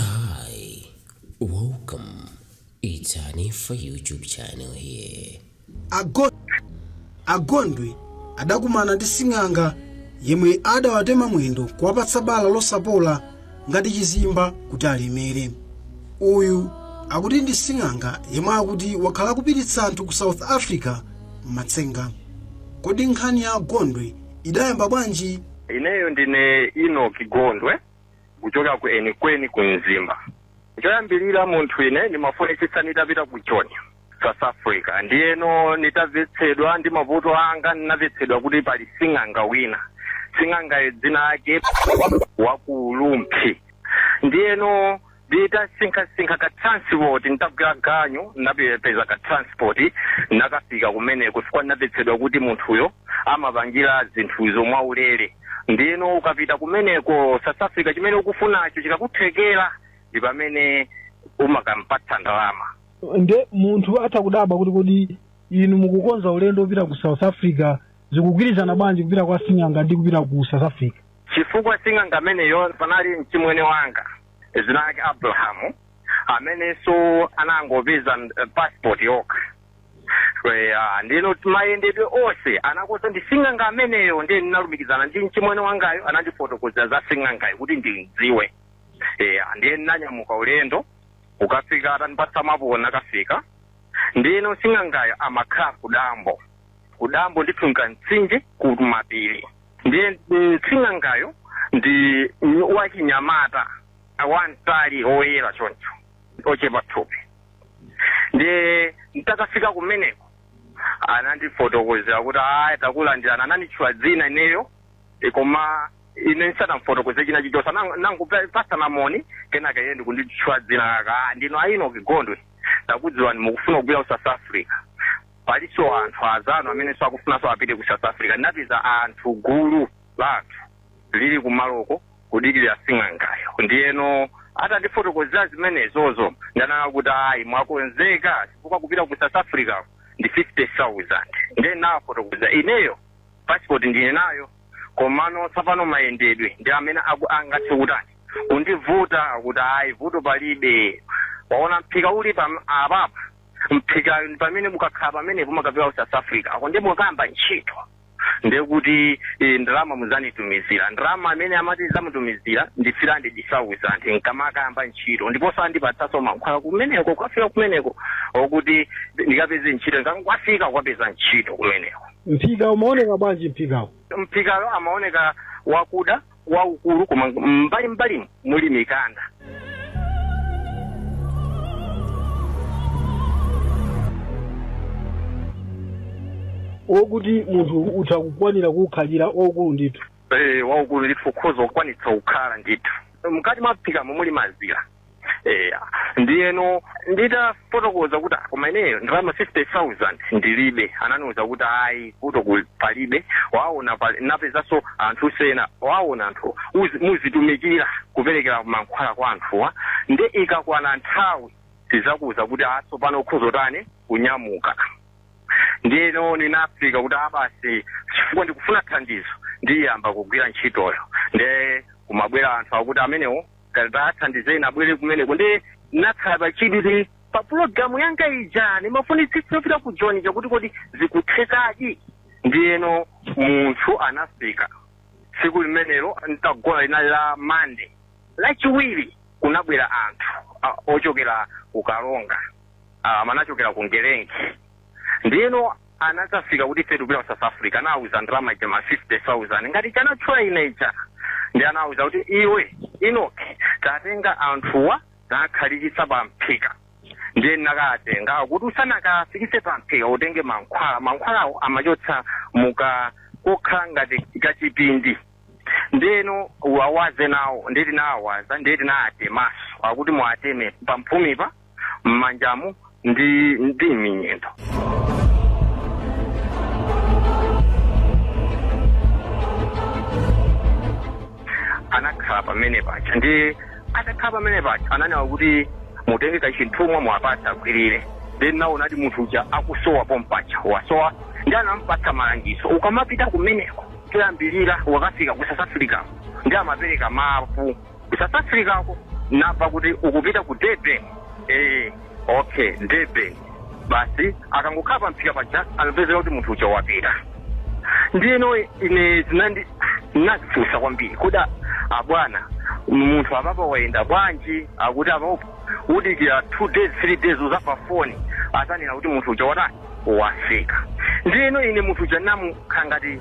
Hi, welcome. It's Hanifa YouTube channel here. Ago- agondwe adakumana ndi sing'anga yemwe adawatema mwendo kuwapatsa bala losapola ngati chizimba kuti alemere uyu akuti ndi sing'anga yemwe akuti wakhala akupititsa anthu ku south africa m'matsenga kodi nkhani ya agondwe idayamba bwanji ineyo ndine Inoki Gondwe kuchoka ku Enikweni ku Mzimba. Choyambirira munthu ine ndimafunitsitsa nditapita ku Joni, South Africa. Ndiyeno nditavetsedwa ndi mavuto anga ndinavetsedwa kuti pali sing'anga wina. Sing'angayo dzina lake wa ku Lumphi. Ndiyeno Nditasinkhasinkha ka transport nditagwira ganyu ndinapeza ka transport ndinakafika kumeneko chifukwa ndinamvetsedwa kuti munthuyo amapangira zinthuzo mwaulere ndiyeno ukapita kumeneko South Africa chimene ukufunacho chikakuthekera ndi pamene umakampatsa ndalama nde munthu atha kudabwa kuti kodi inu mukukonza ulendo wopita ku south africa zikugwirizana bwanji kupita kwa sing'anga ndi kupita ku south africa Chifukwa sing'anga ameneyo panali mchimwene wanga dzina lake Abraham amenenso anangopeza eh, passport yokha Eh, ah, ndino mayendedwe onse anakonza ndi sing'anga ameneyo ndiye ndinalumikizana ndi mchimwene wangayo anandifotokozera za sing'angayo kuti ndimdziwe Eh, ah, ndiye ndinanyamuka ulendo ukafika atanipatsa mapu nakafika ndino sing'angayo amakhala kudambo kudambo ndithunga mtsinje kumapiri Ndiye sing'angayo ndi wachinyamata wamtali woyera choncho ochepa thupi ndiye ntakafika kumeneko anandifotokozera kuti aya takulandirana ananditchula dzina ineyo e, koma ine ndisanamfotokoze china chichonse nangopasana moni kenaka iye ndikunditchula dzina kaka "Ah, ndino a Inoki Gondwe takudziwani mukufuna kubwera ku south africa Paliso anthu azanu ameneso akufunaso apite ku south Africa ndinapeza anthu gulu la anthu lili kumaloko kudikilila sing'angayo ndiyeno atandifotokozela zimenezozo ndanena kuti ayi mwakonzeka chifukwa kupita ku south Africa ndi 50,000 nde ndinawafotokoza ineyo passport ndili nayo komano tsapano mayendedwe ndi amene angathe kutani kundivuta akuti ayi vuto palibe waona mphika uli apapa mphikayo ndi pamene mukakhala pamenepo mukapita ku south africako ndi mukakayamba ntchito ndiye kuti eh, ndalama muzanditumizira ndalama amene amati zamutumizira ndi 300,000 nkamakayamba ntchito ndiponso andipatsaso mankhwala kumeneko kukafika kumeneko okuti ndikapeze ntchito ndikafika kukapeza ntchito kumeneko mphika umaoneka bwanji mphikawo mphikayo amaoneka wakuda waukulu koma m'mbali m'mbalimu muli mikanda okuti munthu atha kukwanira kuwukhalira waukulu ndithu Eh, waukulu ndithu ukhoza kukwanitsa kukhala ndithu mkati mwa mphikamo muli mazira eya ndiyeno nditafotokoza kuti "Ah, koma ineyo ndalama 50000 ndilibe ananiuza kuti ayi vuto ku- palibe waona pali- wapezanso anthu ena waona anthu uzi- muzitumikira kuperekera mankhwala kwa anthuwa nde ikakwana nthawi tizakuuza kuti a tsopano ukhoza tani kunyamuka ndiyeno ninafika kuti a basi chifukwa ndikufuna thandizo ndiyamba kugwira ntchitoyo nde kumabwera anthu akuti amenewo tathandizeni abwere kumeneko nde nakhala pachidwi kuti pa pulogalamu yanga ija ndimafunitsitsa yopita ku joni chakuti kodi zikuthekadi ndiyeno munthu anafika tsiku limenelo ntagona linali la mande lachiwiri kunabwera anthu a- ochokera ku kalonga ah, amachokera ku ngelengi ndiyeno anazafika kuti ife tikupita ku south africa anawuza ndalama ija ma 50000 ngati yanatchula ine uja nde anawuza kuti iwe inoki tatenga anthuwa ukhalitse pa mphika ndiye ndinakatenga kuti usanakafikitse pa mphika utenge mankhwala mankhwalawo amachotsa muka kokhala ngati kachipindi ndeno wawaze nawo nde tinawawaza nde tinaatemaso akuti muateme pamphumipa m'manjamu ndi m'miyendo anakhala pamene paja nde atakhala pamene paja ananena kuti mutenge kachithumwa mwapatsa agwirire nde naona kuti munthu uja akusowa pompaja wasowa nde anampatsa malangizo ukamapita kumeneko koyambirira wakafika ku south africa nde amapereka mapu ku south africako nava kuti ukupita ku durban eh, okay durban basi akangokhala pamphika paja anapezeka kuti munthu uja wapita ndiyeno ine zinandi nazifunsa kwambiri kuti a- abwana munthu apapa wayenda bwanji akuti apapo udikira two days three days uzava foni azanena kuti munthu uja watani wafika. Ndiyeno ine munthu uja ndinamukhala ngati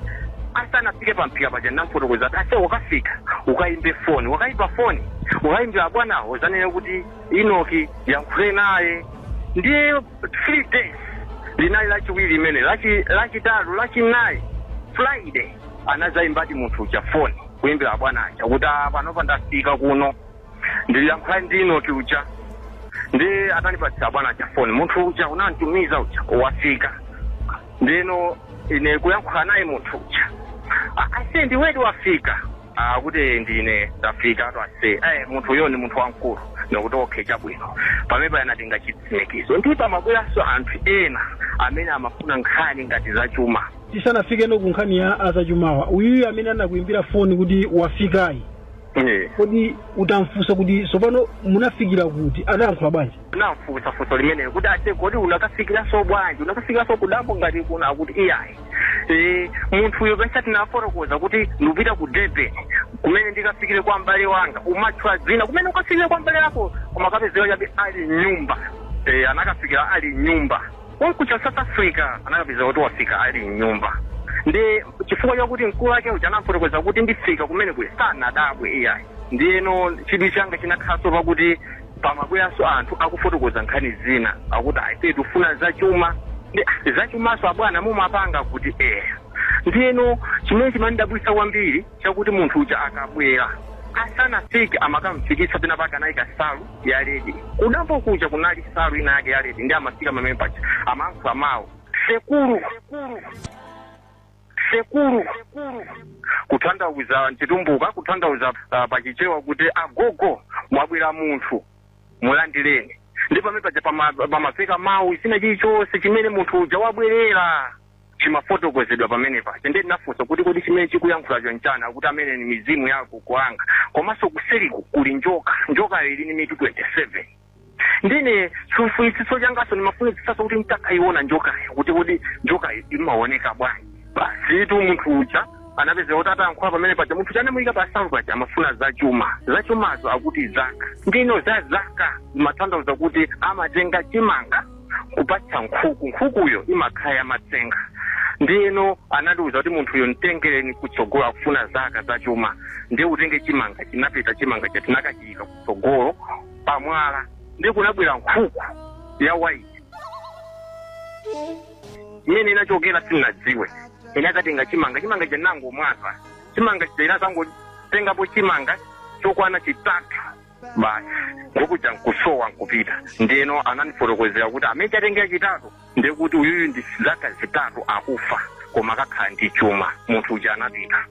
asanafike pamphika paja ndinamufotokoza kuti ase ukafika ukayimbe foni ukayimba foni ukayimbira abwanawo uzanene kuti inoki yankhule naye ndiye three days linali lachiwiri limene lachi- lachitatu lachinayi friday anazayimbadi munthu uja foni kuyimbira abwana aja kuti "Ah, panopa ndafika kuno ndiliyankhula ndi Inoki uja ndi atanipatsa abwana chafoni munthu uja unantumiza uja wafika ndino ine kuyankhula naye munthu uja akati ndiwedi wafika akuti ndine ndafika ato ase eh, munthu uyo ni munthu wamkulu nokuti okhe chabwino pamene anatenga chitsimikizo ndi pamabweranso anthu ena amene amafuna nkhani ngati zachuma tisanafike ku kunkhani ya zachumawa uyuyu amene anakuimbira foni kuti wafikayi Eh. kodi utamfunsa kuti tsopano munafikira kuti anayankhula bwanji namfunsa funso limenelo kuti ate kodi unakafikiranso bwanji unakafikiranso kudambo ngati kuno akuti iyayi Eh, munthuyo penisa tinafotokoza kuti ndikupita ku durban kumene ndikafikire kwa m'bale wanga umatchula dzina kumene ukafikire kwa m'bale wako koma kapezeka chabe ali mnyumba Eh, anakafikira ali mnyumba Konko cha South Africa anakapeza kuti wafika ali mnyumba ndi chifukwa chakuti mkulu wake uja anafotokoza kuti ndifika kumene uli sanadabwe iyayi ndiyeno chidwi changa chinakhalanso pakuti pamabweranso anthu akufotokoza nkhani zina akuti ayi tifuna zachuma ndi ah, zachumanso abwana mumapanga kuti eya ndiyeno chimene chimandidabwitsa kwambiri chakuti munthu uja akabwera asanafike amakamfikitsa pena pake anayika nsalu ya ledi kudambo kuja kunali nsalu ina yake ya ledi ndi amafika pamene paja amayankhula mawu sekulu sekulu kutanthauza mchitumbuka kutanthauza uh, pachichewa kuti agogo mwabwera munthu mulandireni ndi pamene paja pama- pamafika mawu china chilichonse chimene munthu uja wabwerera chimafotokozedwa pamene paja ndiye ndinafunsa kuti kodi chimene chikuyankhulacho nchani akuti amene ni mizimu ya agogo anga komanso kuseriku kuli njoka njokayo ili ni mitu 27 ndiye chifunitsitso changaso ndimafunitsitsaso kuti nditakayiona njokayo kuti kodi njokayo imaoneka bwanji basitu munthu uja anapezeka kuti atayankhula pamene paja munthu uja anamuyika pansalu paja amafuna zachuma zachumazo akuti zaka ndino zaka zimatanthauza kuti amatenga chimanga kupatsa nkhuku nkhukuyo imakhala yamatsenga ndiyeno anatiuza kuti munthuyo mtengereni kutsogolo akufuna zaka zachuma ndiye utenge chimanga chinapita chimanga chija tinakachiyika kutsogolo pamwala ndiye kunabwera nkhuku ya waiti kumene inachokera sinnadziwe inakatenga chimanga chimanga chija anangomwaza chimanga chija inadzangotengapo chimanga chokwana chitatu basi nkhuku ija nkusowa nkupita ndeno anandifotokozera kuti mmene yatengera chitatu ndekuti uyuyu ndi zaka zitatu akufa koma akakhala ndi chuma munthu uja anapita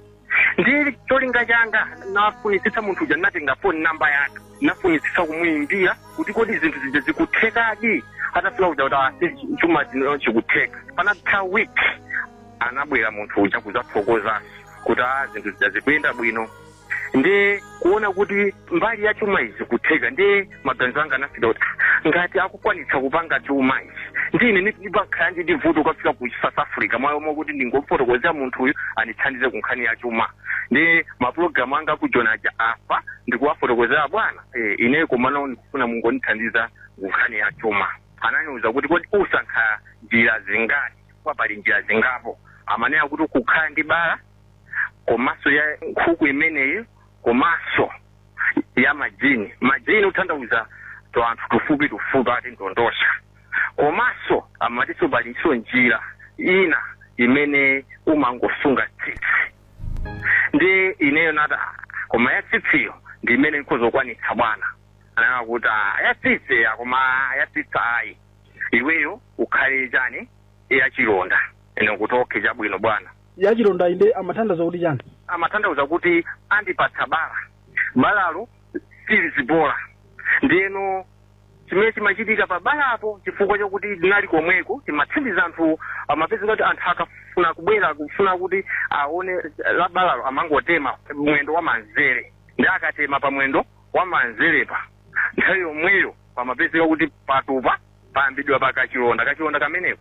ndi cholinga changa nafunitsitsa munthu uja ndinatenga foni namba yake nafunitsitsa kumuyimbira kuti kodi zinthu zija zikuthekadi atafika kuja kuti chuma chino chikutheka panatha week anabwera munthu uja kudzathokoza kuti a zinthu zija zikuyenda bwino nde kuona kuti mbali ya chuma izi kutheka nde maganizo anga anafika kuti "Ah, ngati akukwanitsa kupanga chuma izi nde ine ndipakhala ndi vuto kafika ku south africa mwayo mokuti ndingofotokozera munthu uyu andithandize ku nkhani ya chuma ndi mapulogalamu anga akujona aja apa ndikuwafotokozera bwana eh, ineyo komano ndikufuna mungondithandiza ku nkhani ya chuma ananiuza kuti kodi usankha njira zingati kwa pali njira zingapo amanena kuti kukhala ndi bala komanso ya nkhuku imeneyi komanso ya majini majini kuthandauza ti anthu tufupi tufupi ati ndondocha komanso amatiso palinso njira ina imene umangosunga tsitsi nde ineyo nati "Ah, koma ya tsitsiyo ndi imene nkazakwanitsa bwana ananena kuti "Ah, ya tsitsi koma ya tsitsi ayi iweyo ukhale chani ya chilonda ine kuti okay chabwino bwana yachilondayi nde amathandauza kuti chani? amathandauza kuti andipatsa bala, balalo silizipola ndiyeno chimene chimachitika pa balapo chifukwa chakuti ndinali komweko timathandiza anthu amapezeka kuti anthu akafuna kubwera kufuna kuti aone la balalo amangotema mwendo wa manzere nde akatema pa mwendo wa manzerepa nthawi yomweyo pamapezeka kuti patupa payambidwa pa kachilonda, kachilonda kameneko.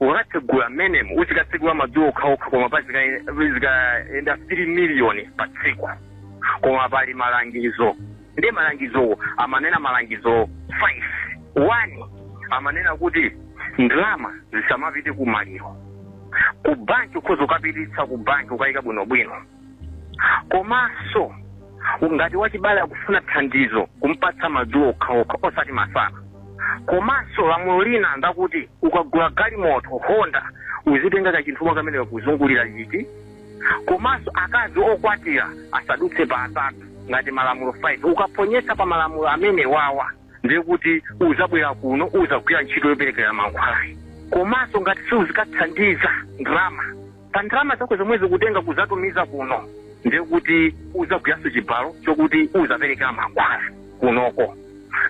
ukakatsegula mmenemo uzikatsegula madzulo okhaokha koma pa zika- zikayenda 3 miliyoni pa tsiku koma pali malangizo ndiye malangizowo amanena malangizo 5 one amanena kuti ndalama zisamapite ku maliro ku banki ukhoza ukapititsa ku banki ukayika bwinobwino komanso ngati wachibale akufuna thandizo kumpatsa madzulo okhaokha osati masana komanso lamulo lina ndakuti ukagula galimoto honda uzitenga kachithumwa kamene kakuzungulira chiti komanso akazi okwatira asadutse pa atatu ngati malamulo 5 ukaphonyetsa pa malamulo amenewawa ndiye kuti uzabwera kuno uzagwira ntchito yoperekera mankhwalayi komanso ngati siuzikathandiza ndalama pa ndalama zako zomwe ukutenga kuzatumiza kuno ndiye kuti uzagwiranso chibalo chokuti uzaperekera mankhwala kunoko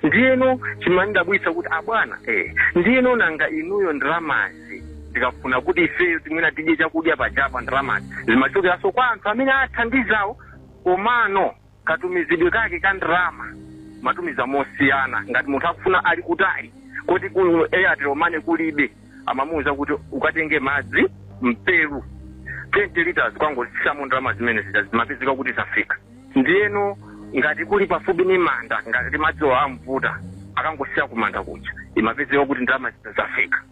ndiyeno chimandidabwitsa kuti abwana eh, ndiyeno nanga inuyo ndalamazi tikafuna kuti ifeyo timwe tidye chakudya pajapa ndalamazi zimachokeranso kwa anthu amene athandizawo komano katumizidwe kake ka ndalama amatumiza mosiyana ngati munthu akufuna ali kutali koti ku airtel money kulibe amamuwuza kuti ukatenge madzi m'pelu 20 liters ukangosiyamo ndalama zimene zija zimapezeka kuti zafika ndiyeno ngati kuli pafupi ni manda ngati madziwo avuta akangosiya kumanda kuja imapezeka kuti ndalama zija zafika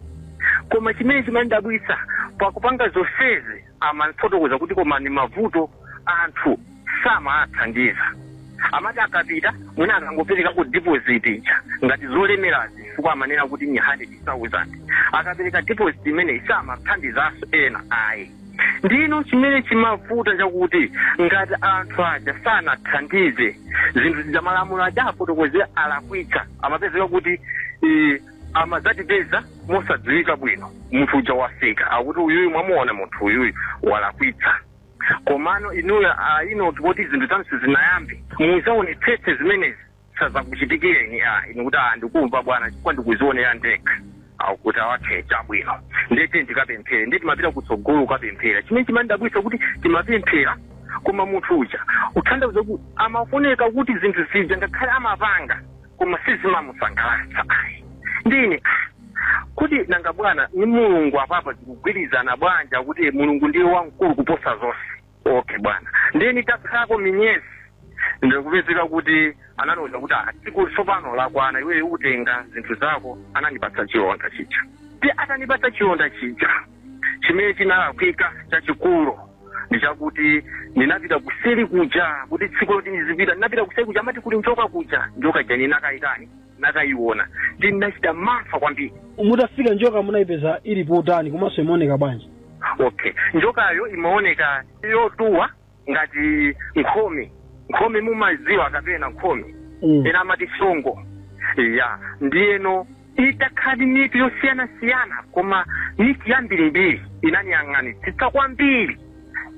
koma chimene chimandabwitsa pakupanga zonsezi amafotokoza kuti koma ni mavuto anthu samawathandiza amati akapita mwina akangoperekako deposit ija ngati zolemerazi chifukwa amanena kuti ni 100,000 akapereka deposit imeneyi samathandizanso ena ayi ndino chimene chimavuta chakuti ngati anthu aja sanathandize zinthu zija malamulo aja afotokoze alakwitsa amapezeka kuti eh, amadzatipeza mosadziwika bwino munthu uja wafika akuti uyuyu mwamuona munthu uyuyu walakwitsa komano inuyo ayinoti kuti zinthu zanu sizinayambe muzaonetsetse zimenezi sazakuchitikireni a inu kuti a ndikumva bwana chifukwa ndikuzionera ndekha akuti awakhe chabwino ndiye ndikapemphera ndiye timapita kutsogolo ukapemphera chimene chimandidabwitsa kuti timapemphera koma munthu uja kutanthauza kuti amafunika kuti zinthu zija ngakhale amapanga koma sizimamusangalatsa ayi ndine ah, kuti nanga bwana ni mulungu apapa zikugwirizana bwanji akuti mulungu ndiye wamkulu kuposa zonse okay bwana ndiye nitakhalako miyezi ndikupezeka kuti anandiuza kuti "Ah, tsiku tsopano lakwana iweyo utenga zinthu zako anandipatsa chilonda chija ndiye atanipatsa chilonda chija chimene chinalakwika chachikulu ndi chakuti ndinapita kuseri kuja kuti tsiku loti ndizipita ndinapita kuseri kuja amati kuli njoka kuja njoka ija ndinakayitani ndinakayiona ndi ndinachita mantha kwambiri mutafika njoka munayipeza ili potani komanso imaoneka bwanji okay njokayo imaoneka yotuwa ngati nkhomi nkhomi mumaziwa kapena nkhomi Mm. ena amati songo ya ndiyeno ili ndi mitu yosiyanasiyana koma mitu yambirimbiri inaniyang'anitsitsa kwambiri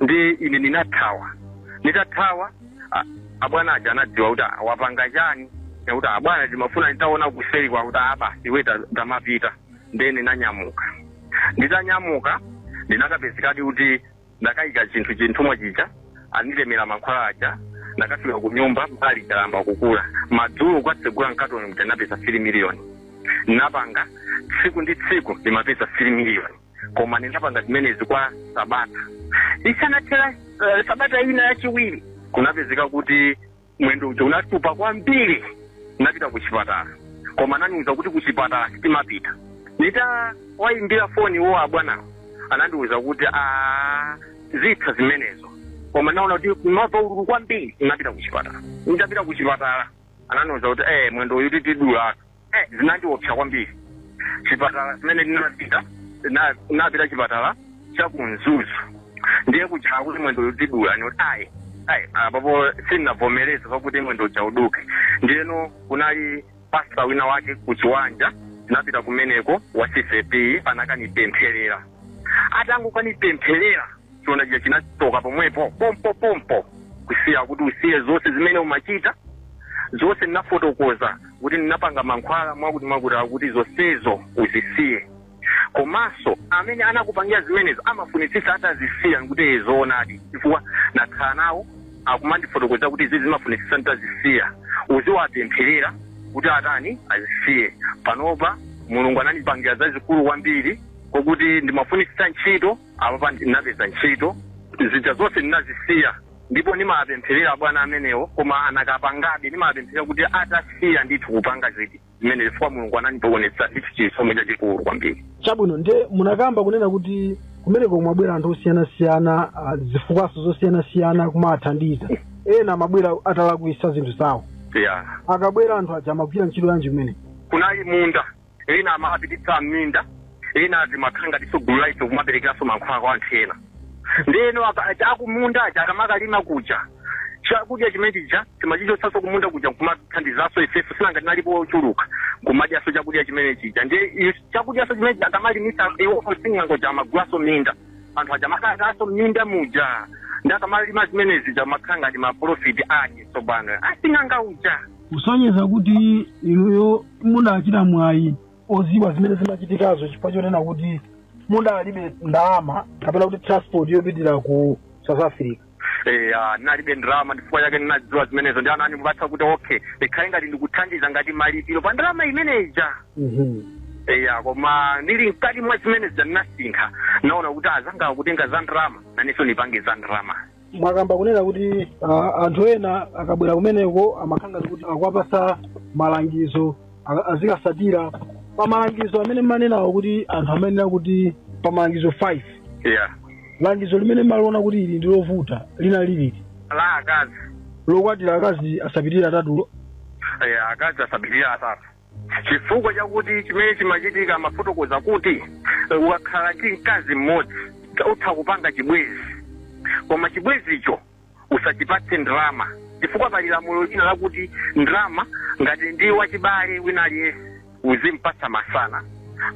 ndi ine ndinathawa nditathawa a- abwana aja anadziwa kuti "Ah, wapanga chani kuti abwana ndimafuna nditaona kuseri kwakuti apa iwe ta- tamapita ndiye ndinanyamuka nditanyamuka ndinakapezekadi kuti ndakaika chinthu chithumwa chija anditemera mankhwala aja ndakafika ku nyumba mbali chalamba kukula madzulo kwatsegula mkatoni mja napeza 3 miliyoni ndinapanga tsiku ndi tsiku ndimapeza 3 miliyoni koma ndinapanga zimenezi kwa sabata isanathera uh, sabata ina yachiwiri kunapezeka kuti mwendo uja unatupa kwambiri napita ku chipatala koma anandiuza kuti ku chipatala sitimapita nitawayimbira foni wo abwanawo anandiuza kuti a zitha zimenezo koma naona kuti ndimamva ululu kwambiri napita ku chipatala nitapita ku chipatala anandiuza kuti eh mwendo uyu titi tidulatu eh, zinandiopsa kwambiri chipatala zimene ndinapita na- napita chipatala cha ku Mzuzu ndiye kuja akuti mwendo tidula nati ayi ayi apapo sindinavomereze pakuti mwendo uja uduke ndiyeno kunali pasta wina wake kuchiwanja tinapita kumeneko wa CCAP anakanipempherera atangokanipempherera chiona chija chinachoka pomwepo pompo pompo kusiya kuti usiye zonse zimene umachita zonse ndinafotokoza kuti ndinapanga mankhwala mwakuti mwakuti akuti zonsezo uzisiye komanso amene anakupangira zimenezo umafunitsitsa atazisiya nkuti iye zoonadi chifukwa nakhala nawo akumandifotokoza kuti izi ndimafunitsitsa nditazisiya uziwapempherera kuti atani azisiye panopa mulungu anandipangira zazikulu kwambiri mwakuti ndimafunitsitsa ntchito Apapa ndinapeza ntchito, zija zonse ndinazisiya ndipo ndimawapempherera abwana amenewo, koma anakapangabe. Ndimawapempherera kuti atasiya ndithu kupanga ziti zimene, chifukwa Mulungu anandionetsa ndithu chisomo chachikulu kwambiri. chabwino ndiye munakamba kunena kuti kumeneko kumabwera anthu osiyanasiyana ah, zifukwanso zosiyanasiyana kumathandiza ena amabwera atalakwisa zinthu zawo Yeah. akabwera anthu aja amagwira ntchito yanji kumene kunali munda ena amawapititsa m'minda ena zimakhala ngatinso gulu la ife kumaperekeranso mankhwala kwa anthu ena ndeno aka- akumunda aja akamakalima kuja chakudya chimene chija timachichotsanso kumunda kuja nkumathandizanso ifenso si nanga tinalipo ochuluka kumadyanso chakudya chimene chija ndi i- chakudyanso chimene chija akamalimitsa iwopo sing'anga uja amagulanso minda anthu aja amakhalanso minda muja ndi akamalima zimene zija amakhala ngati maprofiti ake tsopano asing'anga uja kusonyeza kuti inuyo mudachita mwayi oziwa zimene zimachitikazo chifukwa chonena kuti mudalibe ndalama kapena kuti transport yopitira ku south africa eya ndinalibe ndalama n'chifukwa chake ndinadziwa zimenezo ndi ana andipatsa kuti okay ikhale ngati ndikuthandiza ngati malipiro pa ndalama imene ija eya koma ndili mkati mwa zimenezi ndinasinkha naona kuti azanga akutenga za ndalama nanenso ndipange za ndalama mwakamba kunena kuti ah, anthu ena akabwera kumeneko amakhala ngati kuti akuwapatsa malangizo a- azikatsatira pa malangizo amene mmanenawo kuti anthu amayenera kuti pa malangizo 5 eya langizo limene mmaliona kuti ili ndi lovuta linali liti la akazi lokwatira akazi asapitirire atatulo eya akazi asapitirire atatu chifukwa chakuti chimene chimachitika amafotokoza kuti ukakhala ndi mkazi mmodzi utha kupanga chibwezi koma chibwezicho usachipatse ndalama chifukwa pali lamulo lina lakuti ndalama ngati ndi wachibale wina aliyense uzimpatsa masana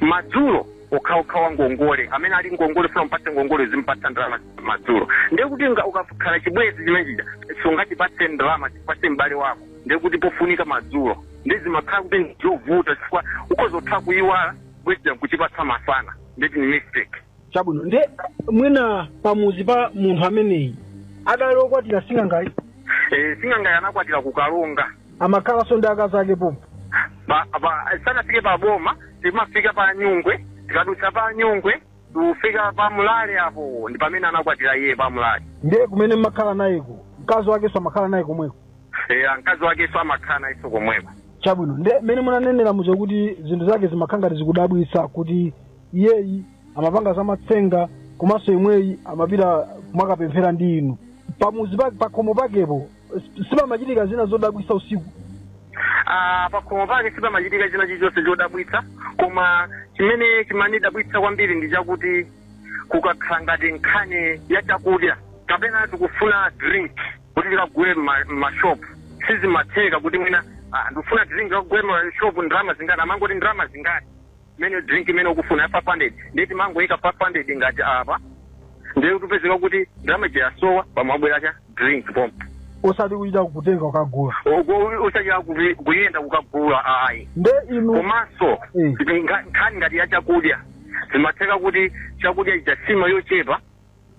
madzulo okhaokha wa ngongole amene ali ngongole ufuna umpatse ngongole uzimpatsa ndalama madzulo ndiye kuti nga- ukakhala chibwezi chimene chija sungachipatse ndalama upatse m'bale wako ndiye kuti pofunika madzulo ndi zimakhala kuti ndi zovuta chifukwa ukhoza kutha kuyiwala bwezi ukuchipatsa masana ndeti ni mistake chabwino nde mwina pamuzi pa munthu ameneyi adali okwatira sing'angayi Eh, sing'angayi anakwatira ku Karonga amakhalanso ndi akazi ake pompo Pa- pa- sanafike pa boma timafika pa nyungwe tikadutsa pa nyungwe kufika pa Mlare apo ndi pamene anakwatira iye pa Mlare ndiye kumene mmakhala nayeko mkazi wakenso amakhala naye komweko eya mkazi wakenso amakhala nayenso komweko chabwino nde mmene munanenera muja kuti zinthu zake zimakhala ngati zikudabwitsa kuti iyeyi amapanga zamatsenga komanso inuyo amapita kumakapemphera ndi inu pamuzi pake pakhomo pakepo S- Sipamachitika zina zodabwitsa usiku. Ah, pakhomo pake sipamachitika china chilichonse chodabwitsa koma chimene chimandidabwitsa kwambiri ndi chakuti kukakhala ngati nkhani ya chakudya kapena tikufuna drink kuti tikagule mma- mmashopu sizimatheka kuti mwina ah, ndikufuna drink tikagule mmashopu ndalama zingati amangoti ndalama zingati mene drink imene ukufuna ya 500 ndiye timangoyika 500 ngati apa ndiye kupezeka kuti ndalama ija yasowa pamabwera cha drink pompo osati kuchita kutenga ukagula usachita kuyenda kukagula ayi nde inu komanso Eh. nga- nkhani ngati ya chakudya zimatheka kuti chakudya chija nsima yochepa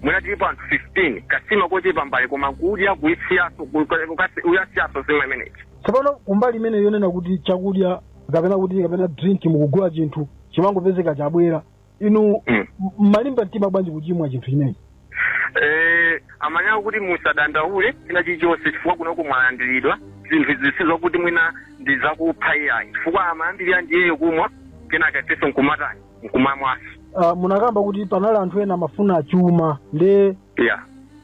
Mwina tilipo anthu 15, kansima kochepa m'mbale koma kudya kuisiyaso kukasi kuyisiyaso nsima imeneyi. Tsopano kumbali imene yonena kuti chakudya kapena kuti kapena drink mukugula chinthu chimangopezeka chabwera inu Mm. m- mmalimba mtima bwanji kuchimwa chinthu chimenechi Eh, amanena kuti musadandaule china chilichonse chifukwa kunoko mwalandiridwa zinthu izi sizokuti mwina ndi zakupha iyayi chifukwa amayambirira ndiyeyo kumwa kenaka ifeso nkumatani nkumamwaso uh, munakamba kuti panali anthu ena amafuna chuma ndiye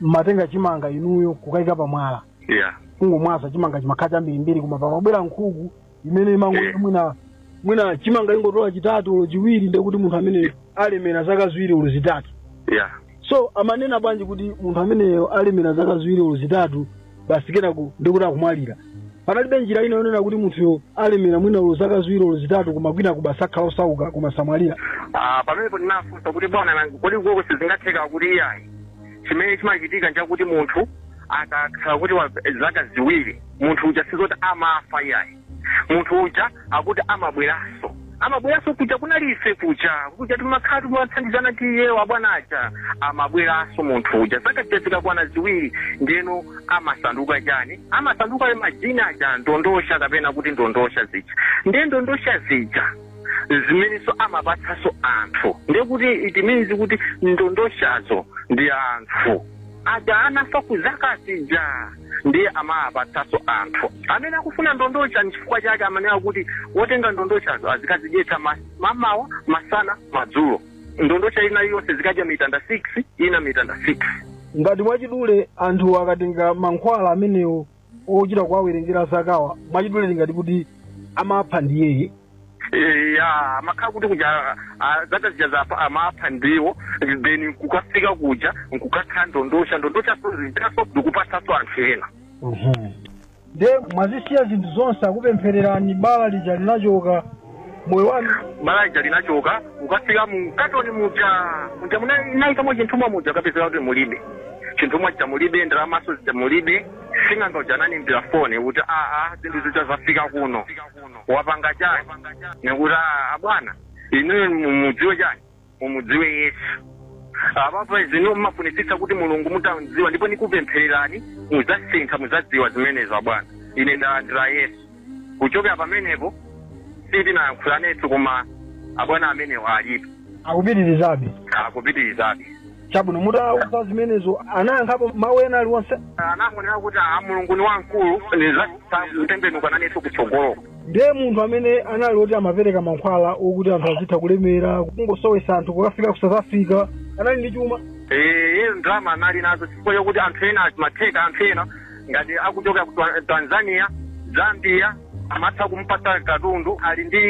mmatenga chimanga inuyo kukaika pamwala eya kungomwaza chimanga chimakhala chambirimbiri koma pamabwera nkhuku imene imangoti Yeah. mwina mwina chimanga ingotola chitatu olo chiwiri ndekuti munthu amene alemera zaka ziwiri olo zitatu ya so amanena bwanji kuti munthu ameneyo alemera zaka ziwiri olo zitatu basi kenako ndikuti akumwalira panalibe njira ina yonena kuti munthuyo alemera mwina olo zaka ziwiri olo zitatu koma kenako basi akhala osauka koma samwalira Ah, pamenepo ndinafunsa kuti bwana nanga kodi koko sizingatheke akuti iyayi chimene chimachitika nchakuti munthu akakhala kuti wa zaka ziwiri munthu uja sizoti amafa iyayi munthu uja akuti amabweranso amabweranso kuja kunali ife kuja kuja timakhala timathandizana ndi iwo abwana aja amabweranso munthu uja zaka zija zikakwana ziwiri ndeno amasanduka chani amasanduka ayo majini aja ndondocha kapena kuti ndondocha zija ndiye ndondocha zija zimenenso amapatsanso anthu ndiye kuti it means kuti ndondochazo ndi anthu aja anafa ku zaka zija ndiye amawapatsanso anthu amene akufuna ndondocha nchifukwa chake amanena kuti wotenga ndondochazo azikazidyetsa ma- mamawa masana madzulo ndondocha ina yonse zikadya mitanda 6 ina mitanda 6 ngati mwachidule anthu akatenga mankhwala amenewo ochita kuwawerengera zakawawa mwachidule tingati kuti amapha ndiyeyi Eh, ya amakhala kuti kuja ah, zaka zija zapa amapha ndiwo then kukafika kuja nkukakhala ndondosha ndondosha so zitaso ndikupatsaso anthu ena nde mwazisiya zinthu zonse atakupemphererani bala lija linachoka moyo wanu bala lija linachoka ukafika mu katoni muja muja munaikamo chinthumwa muja kapezeka kuti mulibe chinthumwa chija mulibe ndalamaso zija mulibe sing'anga uja ananiimbira foni kuti aa zinthu zija zafika kuno wapanga chani nikuti "Ah, abwana inuyo mumudziwe chani mumudziwe yesu apa pano mmafunitsitsa kuti mulungu mutamdziwa ndipo nikupemphererani muzasintha muzadziwa zimenezo abwana ine ndalandira yesu kuchokera pamenepo sitinayankhulanetso koma abwana amenewo alipo akupitirizabe akupitirizabe chabwino mutawauza zimenezo anayankhapo mawu ena aliwonse anangonena kuti a mulungu ni wamkulu nizatembenuka nanenso kutsogoloko ndiye munthu amene anali oti amapereka mankhwala okuti anthu azitha kulemera kungosowetsa anthu kukafika ku south africa anali ndi chuma iye ndalama anali nazo chifukwa chokuti anthu ena zimatheka anthu ena ngati akuchoka ku Twa- tanzania zambia amatha kumpatsa katundu ali ndi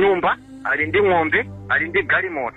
nyumba ali ndi ng'ombe ali ndi galimoto